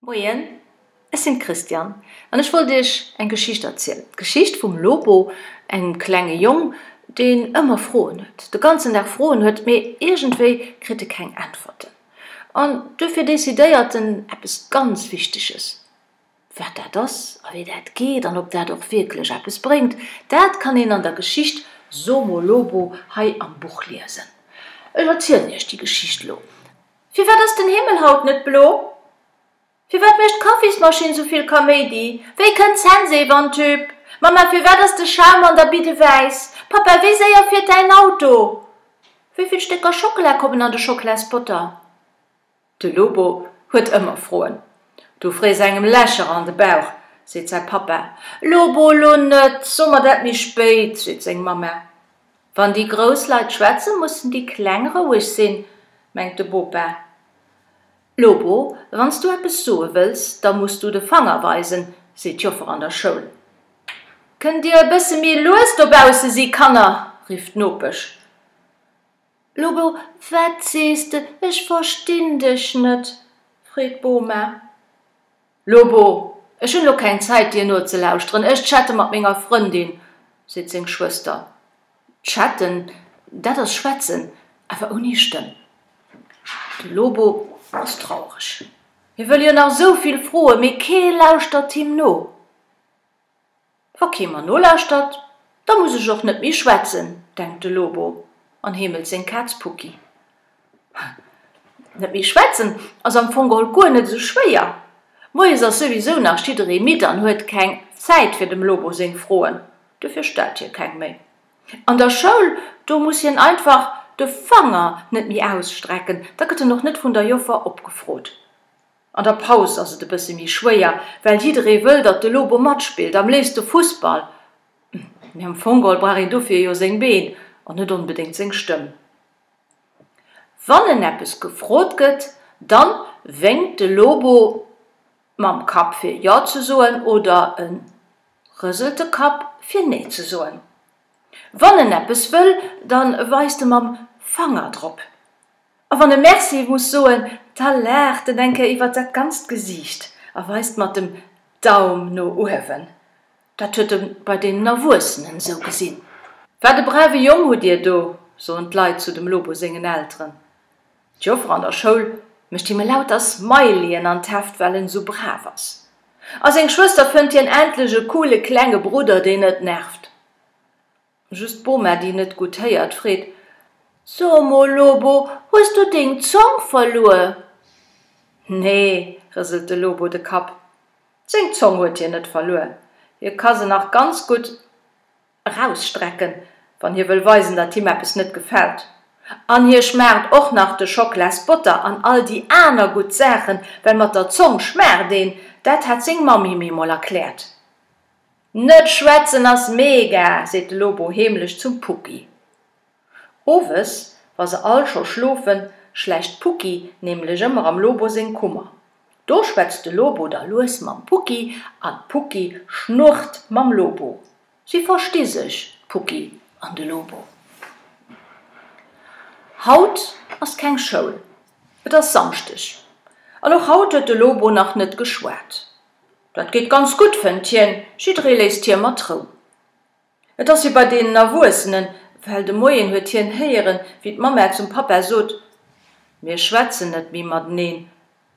Moien, ech sinn d'Christiane an ech wollt iech eng Geschicht erzielen. D'Geschicht vum Lobo, engem klenge Jong, deen ëmmer Froen huet, de ganzen Dag Froen huet, mee iergendwéi kritt e keng Äntwerten. An duerfir decidéiert en eppes ganz Wichteges. Wat dat ass a wéi dat geet an ob dat och wierklech eppes bréngt, dat kann een an der Geschicht Somo Lobo hei am Buch liesen. Ech erzielen iech déi Geschicht elo. Firwat ass den Himmel haut net blo? Firwat mécht d'Kaffismaschinn souvill Kaméidi? Wéi kënnt d'Sensew an d'Hüb? Mamma, firwat ass de Schaum an der Bidde wäiss? Pappa, wéi séier fiert däin Auto? Wéi vill Stécker Schockela kommen an de Schocklaspotter? De Lobo huet ëmmer Froen. Du frees engem Lächer an de Bauch, seet säi Pappa. Lobo, elo net, so mer dat méi spéit, seet seng Mamma. Wann déi grouss Leit schwätzen, mussen déi Kleng roueg sinn, mengt de Bopa. Lobo, wann s du eppes soe wëlls, da muss du de Fanger weisen, seet d'Joffer an der Schoul. Kënnt Dir e bësse méi lues dobausse si, Kanner, rifft d'Nopesch. Lobo, Wat sees de? Ech verstinn dech net! freet d'Boma. Lobo, Ech hunn elo keng Zäit dir nozelauschteren, ech chatte mat menger Frëndin, seet seng Schwëster. Chatten, dat ass schwätzen, awer ouni Stëmm. De Lobo ass traureg, hie wëll jo nach esou vill froen, mee kee lauschtert him no. Wa kee mer nolauschtert, da muss ech och net méi schwätzen, denkt de Lobo an heemelt seng Kaz Pucki. Net méi schwätzen ass am Fong geholl guer net esou schwéier. Moies ass souwisou nach jidderee midd an huet keng Zäit fir dem Lobo seng Froen, dofir stellt hie keng méi. An der Schoul, do muss hien einfach de Fanger net méi ausstrecken, da gëtt en och net vun der Joffer opgefrot. An der Paus ass et e bësse méi schwéier, well jidderee wëll, datt de Lobo matspillt, am léifste Fussball. Mee am Fong geholl brauch een dofir jo seng Been an net onbedéngt seng Stëmm. Wann en eppes gefrot gëtt, da wénkt de Lobo mam Kapp fir Jo ze soen oder e rëselt de Kapp fir Nee ze soen. Wann en eppes wëll, dann weist e mam Fanger drop. A wann e Merci muss soen, da laacht en eng Kéier iwwert dat ganzt Gesiicht a weist mat dem Daum no uewen. Dat huet e bei deenen Erwuessenen esou gesinn. Wat e brave Jong hutt Dir do, soen d'Leit zu dem Lobo sengen Elteren. D'Joffer an der Schoul mécht him e lauter Smileyen an d'Heft, well en esou brav ass. A seng Schwëster fënnt hien endlech e coole klenge Brudder, deen net nervt. Just d'Boma, déi net gutt héiert, freet, So mol, Lobo, hues du deng Zong verluer? Nee, rëselt de Lobo de Kapp, seng Zong huet hien net verluer, hie ka se nach ganz gutt. erausstrecken, wann hie wëll weisen, datt him eppes net gefält. An hie schmaacht och nach de Schocklaasbotter an all déi aner gutt Saachen, well mat der Zong schmaacht een, dat hat seng Mamm him eemol erkläert. Net schwätzen ass mega! seet de Lobo heemlech zum Puppi. Owes, wa se all scho schlofen, schlächt d'Pucki nämlech ëmmer am Lobo seng Kummer. Do schwätzt de Lobo da lues mam Pucki an d'Pucki schnurrt mam Lobo. Si versti sech, d'Pucki an de Lobo. Haut ass keng Schoul. Et ass Samschdeg an och haut huet de Lobo nach net geschwat. Dat geet ganz gutt, fënnt hien, jidderee léisst hie mat Rou. Et ass wéi bei deenen Erwuessenen, well de Moien huet hien héieren, wéi d'Mamma zum Pappa sot, Mir schwätzen net méi mateneen.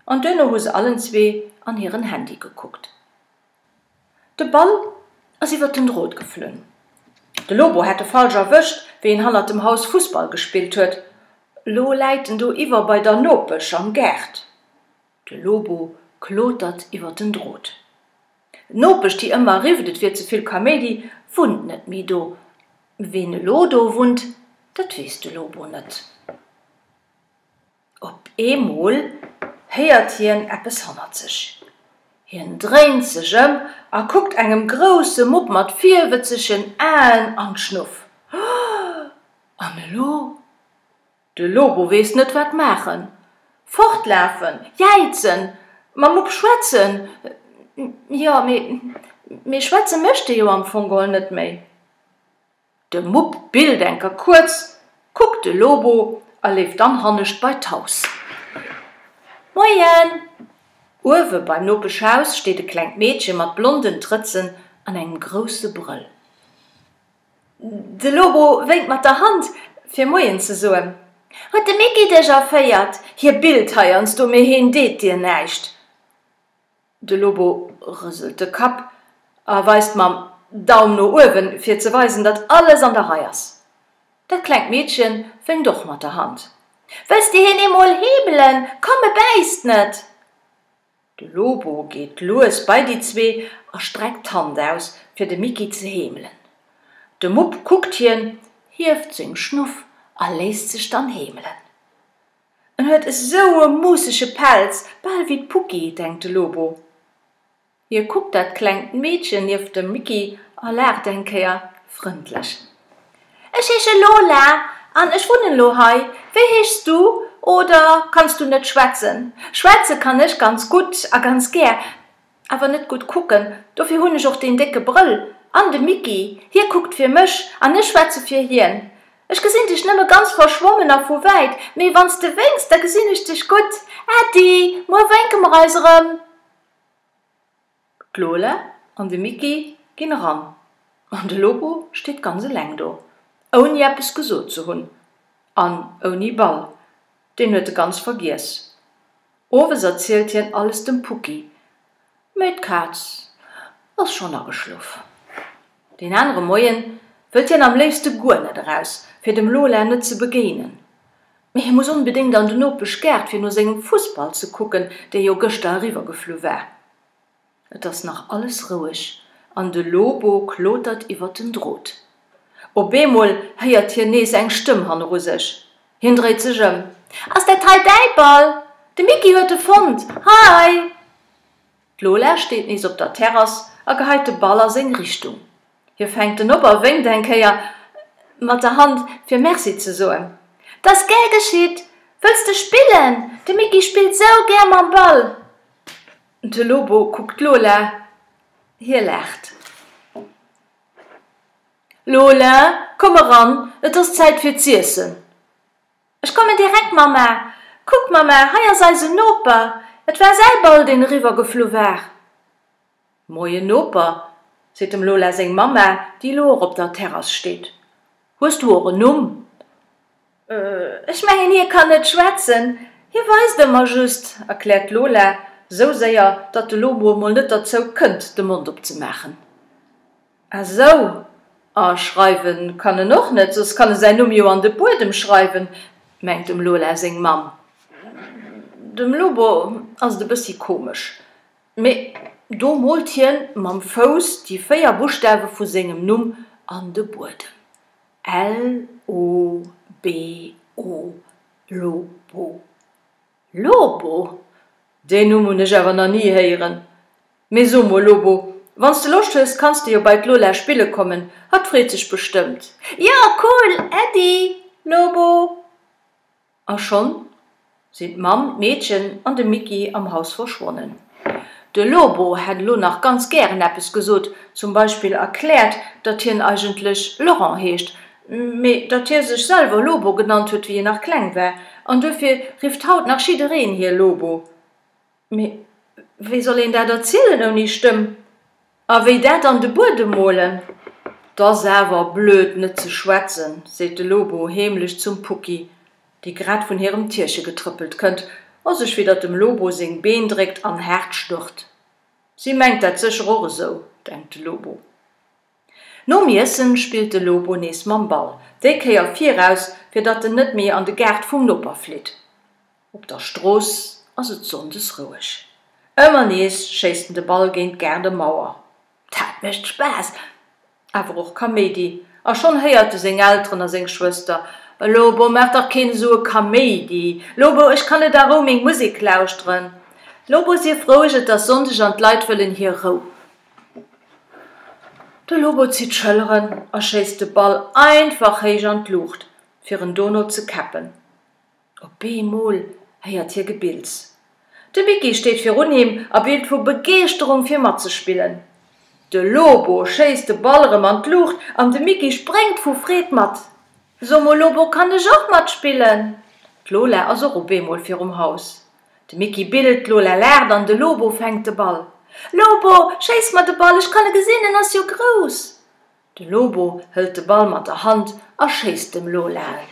An duerno hu se allen zwee an hiren Handy gekuckt. De Ball ass iwwert den Drot geflunn. De Lobo hätt e falsch erwëscht, wéi en hannert dem Haus Fussball gespillt huet. Lo läit en do iwwer bei der Nopesch am Gaart. De Lobo klotert iwwert den Drot. D'Nopesch, déi ëmmer rifft, et wier ze vill Kaméidi, wunnt net méi do. Ween elo do wunnt, dat weess de Lobo net. Op eemol héiert hien eppes hannert sech. Hien dréint sech ëm a kuckt engem grousse Mupp mat virwëtzegen Aen an d'Schnuff. An elo? De Lobo weess net wat maachen. Fortlafen, jäizen, mam Mupp schwätzen, jo, mee schwätze mécht e jo am Fong geholl net méi. De Mupp billt eng Kéier kuerz, kuckt de Lobo a leeft dann hannescht bei d'Haus. Moien! Uewe beim Nopeschhaus steet e klengt Meedche mat blonden Trëtzen an engem grousse Brëll. De Lobo wénkt mat der Hand, fir Moien ze soen. Huet de Micky dech erféiert? Hie billt heiansdo, mee hien deet dir näischt. De Lobo rëselt de Kapp a weist mam Daum no uewen, fir ze weisen, datt alles an der Rei ass. Dat klengt Meedche wénkt och mat der Hand. Wëlls de hien eemol heebelen? Komm, e bäisst net! De Lobo geet lues bei déi zwee a streckt d'Hand aus, fir de Micky ze heemelen. De Mupp kuckt hien, hieft seng Schnuff a léisst sech dann heemelen. En huet esou e muussege Pelz, bal wéi d'Pucki, denkt de Lobo. Hie kuckt dat klengt Meedchen nieft dem Micky a laacht eng Kéier frëndlech. Ech heesche Lola an ech wunnen elo hei. Wéi heeschs du oder kanns du net schwätzen? Schwätze kann ech ganz gutt a ganz gär, awer net gutt kucken. Dofir hunn ech och deen décke Brëll. An de Micky, hie kuckt fir mech an ech schwätze fir hien. Ech gesinn dech nëmme ganz verschwommen a vu wäit, mee wann s de wénks, da gesinn ech dech gutt. Äddi, muer wénke mer eis erëm. D'Lola an de Micky ginn eran an de Lobo steet ganz eleng do, ouni eppes gesot ze hunn an ouni Ball, deen huet e ganz vergiess. Owes erzielt hien alles dem Pucki, mee d'Kaz ass schonn ageschlof. Deen anere Moien wëllt hien am léifste guer net eraus, fir dem Lola net ze begéinen. Mee hie muss onbedéngt an den Nopeschgaart, fir no sengem Fussball ze kucken, dee jo gëschter eriwwergeflu war. Et ass nach alles roueg an de Lobo klotert iwwert den Drot. Op eemol héiert hien nees eng Stëmm hanneru sech. Hien dréit sech ëm. Ass dat hei däi Ball? De Micky huet e fonnt. Hei! D'Lola steet nees op der Terrass a geheit de Ball a seng Richtung. Hie fänkt en op a wénkt eng Kéier mat der Hand, fir Merci ze soen. T'ass gär geschitt! Wëlls de spillen? De Micky spillt sou gär mam Ball! De Lobo kuckt d'Lola, hie laacht. Lola, komm eran, et ass Zäit fir z'iessen! Ech kommen direkt, Mamma! Kuck, Mamma, hei ass eisen Noper! Et war säi Ball, deen eriwwergeflu war. Moien, Noper, seet dem Lola seng Mamma, déi elo och op der Terrass steet. Hues du och en Numm? Ech mengen, hie kann net schwätzen, hie weist ëmmer just, erkläert d'Lola, esou séier, datt de Lobo emol net derzou kënnt, de Mond opzemaachen. Ah sou, ah schreiwen kann en och net, soss kann e säin Numm jo an de Buedem schreiwen, mengt dem Lola seng Mamm. Dem Lobo ass et e bëssi komesch, mee do moolt hien mam Fouss déi véier Buschtawe vu sengem Numm an de Buedem, L-O-B-O, Lobo. Lobo? Deen Numm hunn ech awer nach ni héieren. Mee so mol, Lobo, wann s de Loscht hues, kanns de jo bei d'Lola spille kommen, hatt freet sech bestëmmt. Jo, cool, Äddi, Lobo! A schonn sinn d'Mamm, d'Meedchen an de Micky am Haus verschwonnen. De Lobo hätt elo nach ganz gären eppes gesot, zum Beispill erkläert, datt hien eigentlech Laurent heescht, Mee datt hie sech selwer Lobo genannt huet, wéi hie nach kleng war, an duerfir rifft haut nach jiddereen hie Lobo. Mee wéi soll een dat erzielen ouni Stëmm? A wéi dat an de Buedem molen? T ass awer blöd, net ze schwätzen, seet de Lobo heemlech zum Pucki, déi grad vun hirem Tierche getrëppelt kënnt a sech widder dem Lobo seng Been dréckt an haart schnurrt. Si mengt dat sécher och esou, denkt de Lobo. Nom Iessen spillt de Lobo nees mam Ball, déi Kéier viraus, fir datt en net méi an de Gaart vum Noper flitt. Op der Strooss ass et sonndes roueg. Ëmmer nees schéisst en de Ball géint d'Gaardemauer. Dat mécht Spaass, awer och Kaméidi, a schonn héiert e seng Elteren a seng Schwëster, Lobo, maach dach keen esou e Kaméidi! Lobo, ech kann net a Rou meng Musek lauschteren! Lobo, sief roueg, et ass Sonndeg an d'Leit wëllen hir Rou! De Lobo zitt d'Schëlleren a schéisst de Ball einfach héich an d'Luucht, fir en dono ze käppen. Op eemol héiert hie Gebills. De Micky steet virun him a billt vu Begeeschterung, fir matzespillen. De Lobo schéisst de Ball erëm an d'Luucht an de Micky spréngt vu Freed mat. So mol, Lobo, kann ech och matspillen? D'Lola ass och op eemol virum Haus. De Micky billt d'Lola laacht an de Lobo fänkt de Ball. Lobo, schéiss mer de Ball, ech kann e gesinn, en ass jo grouss! De Lobo hëlt de Ball mat der Hand a schéisst dem Lola en.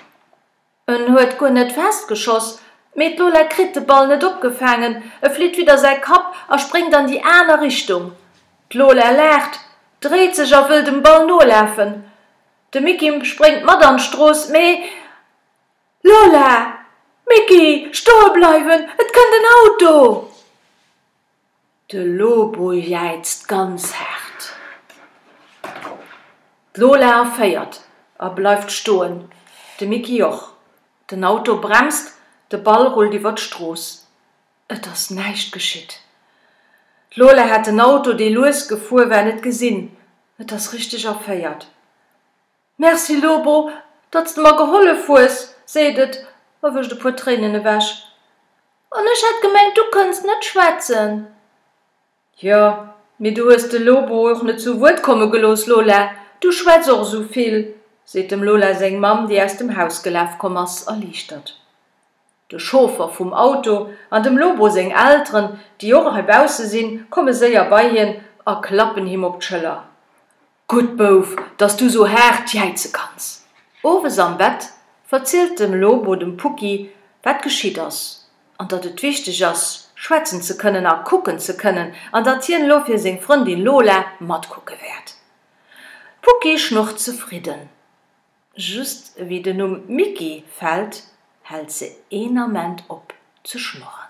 En huet guer net fest geschoss, mee d'Lola kritt de Ball net opgefaangen, e flitt widder säi Kapp a spréngt an déi aner Richtung. D'Lola laacht, dréit sech a wëll dem Ball nolafen. De Micky spréngt mat an d'Strooss, mee. Lola, Micky, stoe bleiwen, et kënnt en Auto! De Lobo jäizt ganz haart. D'Lola erféiert a bleift stoen, de Micky och. Den Auto bremst, de Ball rullt iwwer d'Strooss. Et ass näischt geschitt. D'Lola hat den Auto, dee lues gefuer war, net gesinn. Et ass richteg erféiert. Merci Lobo, datt s de mer gehollef hues, seet et a wëscht e puer Tréinen ewech. An ech hat gemengt, du kënnst net schwätzen. Jo, mee du hues de Lobo och net zu Wuert komme gelooss, Lola. Du schwätz och esou vill, seet dem Lola seng Mamm, déi aus dem Haus gelaf komm ass, erliichtert. De Chauffer vum Auto an dem Lobo seng Elteren, déi och heibausse sinn, komme séier bei hien a klappen him op d'Schëller, Gutt, Bouf, dass du sou haart jäize kanns! Owes am Bett verzielt de Lobo dem Pucki, wat geschitt ass, an datt et wichteg ass, schwätzen ze kënnen a kucken ze kënnen, an datt hien elo fir seng Frëndin Lola matkucke wäert. D'Pucki schnurrt zefridden. Just ewéi den Numm Micky fällt, hält se een Ament op ze schnurren.